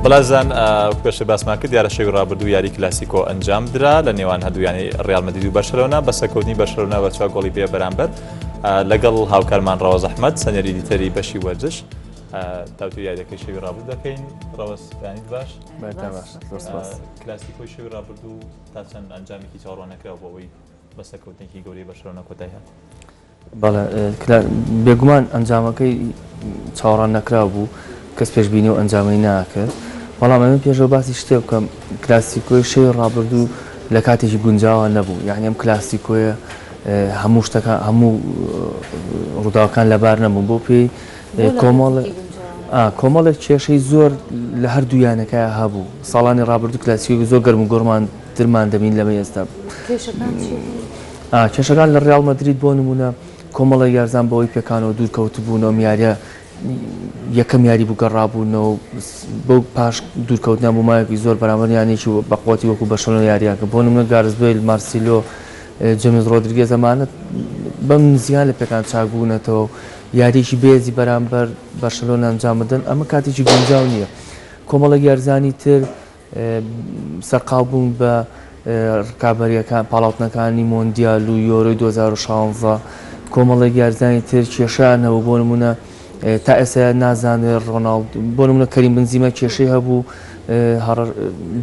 بەڵێزان پێشە باسمان کرد دیارە شەوی ڕابردوو یاری کلاسیکۆ ئەنجام درا لە نێوان هەردوویانی ڕیال مدید و بەشەرەوەنا بەسەکەوتنی بەشەرەوە بە چوار گۆڵی بێ بەرامبەر لەگەڵ هاوکارمان ڕەوە زەحمەت سەنێری دیتەری بەشی وەرزش تاوتو یاریەکەی شەوی ڕابردوو دەکەین ڕەوەستانی باش کلاسیکۆی شەوی ڕابردوو تا چەند ئەنجامێکی چاڕۆنەکراوە بۆەوەی بەسەکەوتنێکی گەوری بەشەرەوە کۆتای هات. بەڵێ کرا، بێگومان ئەنجامەکەی چاوەڕان نەکراو بوو، کەس پێشبینی ئەو ئەنجامەی ناکرد، بەڵام ئەمە پێشەوە باسی شتێ بکەم، کلاسیکۆی شەوی ڕابردوو لە کاتێکی گونجاوە نەبوو، یانی ئەم کلاسیکۆیە هەموو شتەکان هەموو ڕووداوەکان لەبار نەبوون، بۆ پێی کۆمەڵ کۆمەڵێک کێشەی زۆر لە هەردوو یانەکە هەبوو، ساڵانی ڕابردوو کلاسیکۆی زۆر گەرم و گۆڕمان ترمان دەبین لەمە ئێستا. کێشەکان لە ڕیاڵ مەدرید بۆ نموونە کۆمەڵێک یارزان بەوەی پێکانەوە دوورکەوتبوون، ئەم یارییە یەکەم یاری بوو گەڕابوونەوە و بەو پاش دوورکەوتنیان بۆ ماوەیەکی زۆر بەرامبەر یانێکی بەقوەتی وەکو بەرشەلۆنە یارییان کرد، بۆ نموونە گارس بەیل، مارسیلۆ، جەمیس ڕۆدریگێز ئەمانە بەم نزیکانە لە پێکان چاک بوونەتەوە و یارییەکی بێزی بەرامبەر بەرشەلۆنە ئەنجام بدەن، ئەمە کاتێکی گونجاو نییە. کۆمەڵێک یارزانی تر سەرقاڵ بوون بە رکابەرییەکان، پاڵاوتنەکانی مۆندیال و یۆرۆی دوو هەزار و شازدە، کۆمەڵێک یاریزانی تر کێشەیان هەبوو، بۆ نموونە تا ئێستا نازانرێت رۆناڵد، بۆ نموونە کەریم بنزیما کێشەی هەبوو،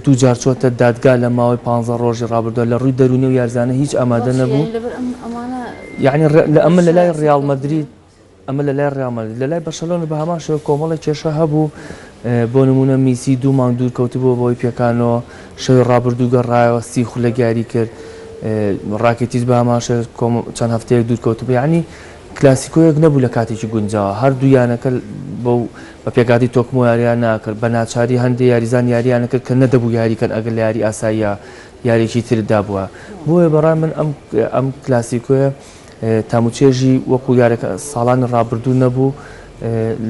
دوو جار چۆتە دادگا لە ماوەی پانزە رۆژی رابردوودا، لە رووی دەروونی ئەو یاریزانە هیچ ئامادە نەبوو، یەعنی ئەمە لە لای ریاڵ مەدرید. ئەمە لە لای ڕیاڵ مەدرید، لە لای بەرشەلۆنەش بە هەمان شێوە کۆمەڵێک کێشە هەبوو، بۆ نموونە میسی دوو مانگ دوور کەوتبووە بەهۆی پێکانەوە، شەوی ڕابردوو گەڕایەوە سی خولەک یاری کرد، ڕاکیتیچ بە هەمان شێوە چەند هەفتەیەک دوور کەوتبوو، یانی کلاسیکۆیەک نەبوو لە کاتێکی گونجاوە، هەردوو یانەکە بەو بە پێکهاتەی تۆکمۆ یارییان ناکرد، بە ناچاری هەندێک یاریزان یارییان ئەکرد کە نەدەبوو یاری کەن ئەگەر لە یاری ئاساییە یارێکی ترت دابوایە، بۆیە بەڕای من ئەم کلاسیکۆیە تام و چێژی وەکو یارەکە ساڵانی ڕابردوو نەبوو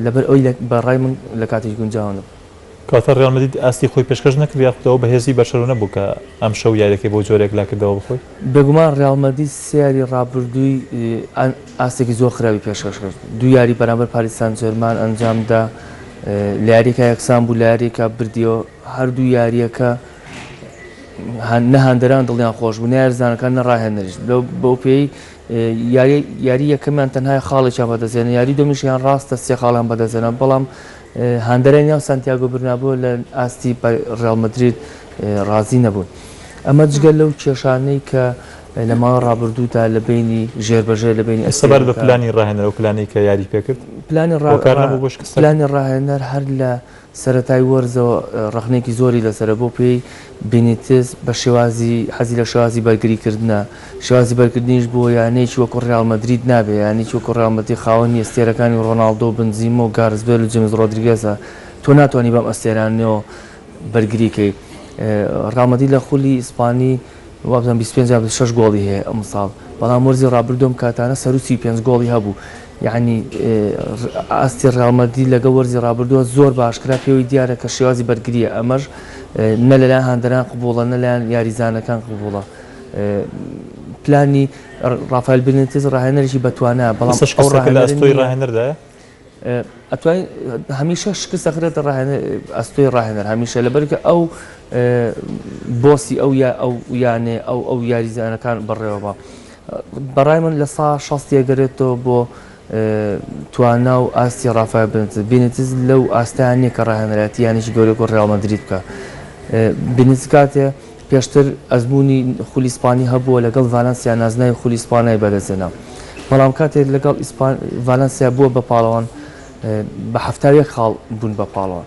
لەبەر ئەوی بە ڕای من لە کاتیش گونجاو نەبوو. کەواتە ڕیاڵ مەدرید ئاستی خۆی پێشکەش نەکرد یاخود ئەو بەهێزی بەرشەلۆنە بوو کە ئەمشەو یاریەکەی بۆ جۆرێک لا کردەوە بەخۆی؟ بێگومان ڕیاڵ مەدرید سێ یاری ڕابردووی ئاستێکی زۆر خراپی پێشکەش کرد، دوو یاری بەرامبەر پاریس سانجێرمان ئەنجامدا لە یاریەکە یەکسان بوو لە یاریەکە بردیەوە، هەردوو یارییەکە نە هاندەران دڵیان خۆش بوو، نە یاریزانەکان نە راهێنەریش. بەوپێیەی یاریی یەکەمیان تەنها خاڵێکیان بەدەستهێنا، یاریی دووەمیشیان راستە سێ خاڵیان بەدەستهێنا، بەڵام هاندەرانی ناو سانتیاگۆ برنابۆ لە ئاستی ریال مەدرید رازی نەبوون. ئەمە جگە لەو کێشانەی کە لە ماوەی رابردوودا لە بەینی ژێربەژێر لە بەینی ئەستێرەکان. سەبارەت بە پلانی راهێنەر، ئەو پلانەی کە یاریی پێکرد هۆکار نەبوو بۆ شکستەکە؟ پلانی راهێنەر هەر لە. سەرەتای وەرزەوە ڕەخنەیەکی زۆری لەسەرە، بەو پێیەی بینیتز بە شێوازی حەزی لە شێوازی بەرگریکردنە، شێوازی بەرگردنیش بۆ یانەیەکی وەکو ڕیاڵ مەدرید نابێت، یانەیەکی وەکو ڕیاڵ مەدرید خاوەنی ئەستێرەکانی ڕۆناڵدۆ و بنزیمە و گارس بێل و جیمس ڕۆدریگێزە، تۆ ناتوانی بەم ئەستێرانەوە بەرگری کەی. ڕیاڵ مەدرید لە خولی ئیسپانی وابزانم بیست و پێنج یان بیست و شەش گۆڵی هەیە ئەمساڵ، بەڵام وەرزی ڕابردوو ئەم کاتانە سەروو سی و پێنج گۆڵی هەبوو، یەعنی ئاستی ڕیاڵ مەدرید لەگەڵ وەرزی ڕابردووە زۆر باشترە، پێوەی دیارە کە شێوازی بەرگرییە، ئەمەش نە لەلایەن هاندەران قبوڵە نە لەلایەن یاریزانەکان قبوڵە، پلانی ڕافایل بنیتز ڕاهێنەرێکی بەتوانایە، بەڵام ئەو ڕاهێنەرە نییە، هەمیشە شکست دەخرێتە ئەستۆی ڕاهێنەر، هەمیشە، لەبەرئەوەی ئەو بۆسی ئەو یانەیە، ئەو یاریزانەکان بەڕێوەبا. بەڕای من لە سەا شەست دەگەرێتەوە بۆ توانا و ئاستی ڕافایل بنتز بینتز لەو ئاستیان نییە کە ڕاهێنەرایەتی یانێکی گەورەی وەکو ڕیاڵ مەدرید بکە بینتز کاتێ پێشتر ئەزمموی خولی ئیسپانی هەبووە لەگەڵ ڤالەنسیا نازناوی خولی ئیسپانای بەدەستێنا بەڵام کاتێک لەگەڵ ئیسپان ڤالەنسیا بووە بە پاڵەوان بە هەفتاویەک خاڵ بوون بە پاڵەوان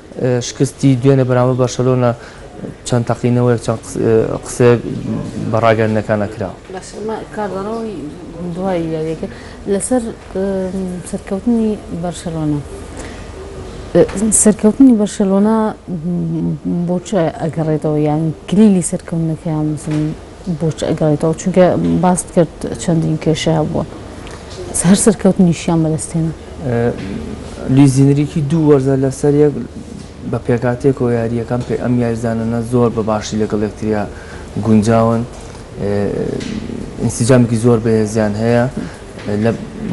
شکستی دوێنێ بەرامبەر بەرشەلۆنە چەند تەقینەوەیەک چەند قسەیەک بە ڕاگەندنەکانە کرا. کاردانەوەی دوای یاریەکە لەسەر سەرکەوتنی بەرشەلۆنە سەرکەوتنی بەرشەلۆنە بۆ ئەگەڕێتەوە یان کلیلی سەرکەوتنەکەیان بۆچی ئەگەڕێیتەوە؟ چونکە باست کرد چەندین کێشەی هەبووە. هەر سەرکەوتنیشیان بەدەستهێنا. لویس ئینریکی دوو وەرزە لەسەر یەک بە پێکهاتەیەکەوە یارییەکان پێ ئەم یاریزانانە زۆر بە باشی لەگەڵ یەکتریا گونجاون. ئینسجامێکی زۆر بەهێزیان هەیە.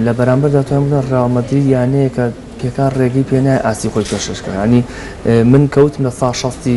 لە بەرامبەردا تۆیان بڵێ ڕیاڵ مەدرید یانەیەکە پێکان ڕێگەی پێ نایە ئاستی خۆی پێشکەش بکات. یانی من کەوتمە ساڵ شەستی.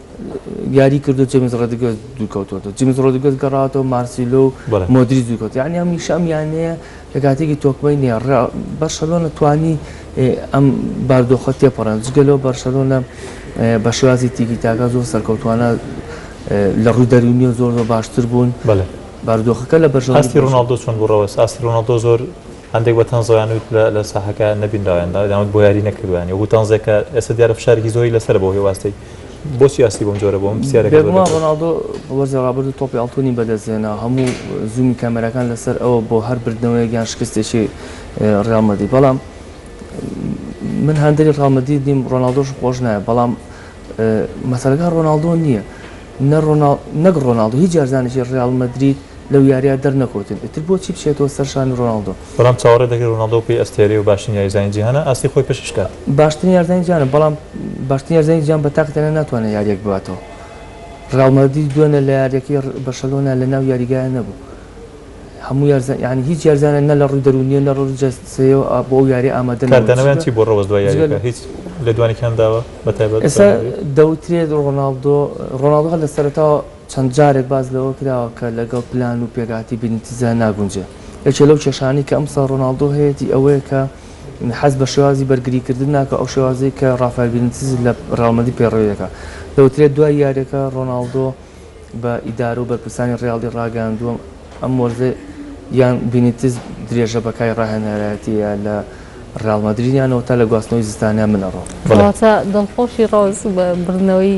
یاری کردو جەمیس ڕۆدیگێز دوورکەوتووەتەوە، جەمیس ڕۆدیگێز گەڕاوەتەوە مارسیلۆ و بەڵێ. مۆدریچ دوورکەوتن، یانی هەمیشە ئەم یانەیە لە کاتێکی تۆکمەی نییە، ڕ بەرشەلۆنە توانی ئێ ئەم باردۆخە تێپەڕێنێت، جگە لەوە بەرشەلۆنە بە شێوازی تیکی تاکا زۆر سەرکەوتووانە ئێ لە ڕووی دەروونی و زۆر زۆر باشتر بوون، بەڵێ. بارودۆخەکە لە بەرشەلۆنە ئاستی باشتر ڕۆناڵدۆ چۆن بوو ڕەوەز؟ ئاستی ڕۆناڵدۆ زۆر هەندێک بە تەنزەوە یان وت لە لە ساحەکە نەبینراوە یان دا یان وت بۆ یاری نەکردووە یانی وەکوو تەنزێک کە ئێستا دیارە فشارێکی زۆری لەسەرە بەوهی ئەو ئاستەی بۆچی ئاستی بەم جۆرە بۆم بێگومان ڕۆناڵدۆ وەرزی ڕابردوو تۆپی ئاڵتونی بەدەستهێنا هەموو زوومی کامێراکان لەسەر ئەوە بۆ هەر بردنەوەیەک یان شکستێکی ڕیاڵ مەدی بەڵام من هەندری ڕیاڵ مەدید نیم ڕۆناڵدۆش خۆش نایە بەڵام مەسەلەکە ڕۆناڵدۆ نییە نەک ڕۆناڵدۆ هیچ جارزانێکی ڕیاڵ مەدرید لەو یاریە دەرنەکەوتن ئیتر بۆچی بچێتەوە سەرشانی ڕۆناڵدۆ بەڵام چاوەڕێ دەکرێت رۆناڵدۆ بکەی ئەستێرەی و باشترین یاریزانی جیهانە، ئاستی خۆی پێشکەش بکات. باشترین یاریزانی جیهانە، بەڵام باشترین یاریزانی جیهان بە تاقی تەنیا ناتوانێت یارییەک بباتەوە. ریال مەدرید دوێنێ لە یارییەکەی بەرشەلۆنا لە ناو یاریگایە نەبوو. هەموو یاریزان، یانی هیچ یاریزانێک نە لە رووی دەروونییەوە نە لە رووی جەستەییەوە بۆ ئەو یارییە ئامادە نەبوو. کاردانەوەیان چی بووە رەوەز دوای یارییەکە؟ هیچ لێدوانێکیان داوە بەتایبەت؟ ئێستا دەوترێت رۆناڵدۆ، رۆناڵدۆ هەر لە سەرەتاوە، چەند جارێک باس لەوە کراوە کە لەگەڵ پلان و پێکهاتەی بینیتزدا ناگونجێ. یەکێ لەو کێشانەی کە ئەمساڵ رۆناڵدۆ هەیەتی ئەوەیە کە حەز بە شێوازی بەرگریکردن ناکا، ئەو شێوازەی کە رافایل بینیتز لە ریال مەدرید پەیڕەوی دەکا. دەوترێ دوای یارییەکە رۆناڵدۆ بە ئیدارە و بەرپرسانی ریالی راگەیاندووە، ئەم وەرزە یان بینیتز درێژە بە کاری راهێنەرایەتییە لە ریال مەدریدیانەوە تا لە گواستنەوەی زستانیان بنەڕۆ. کەواتە دڵخۆشی رۆز بە بردنەوەی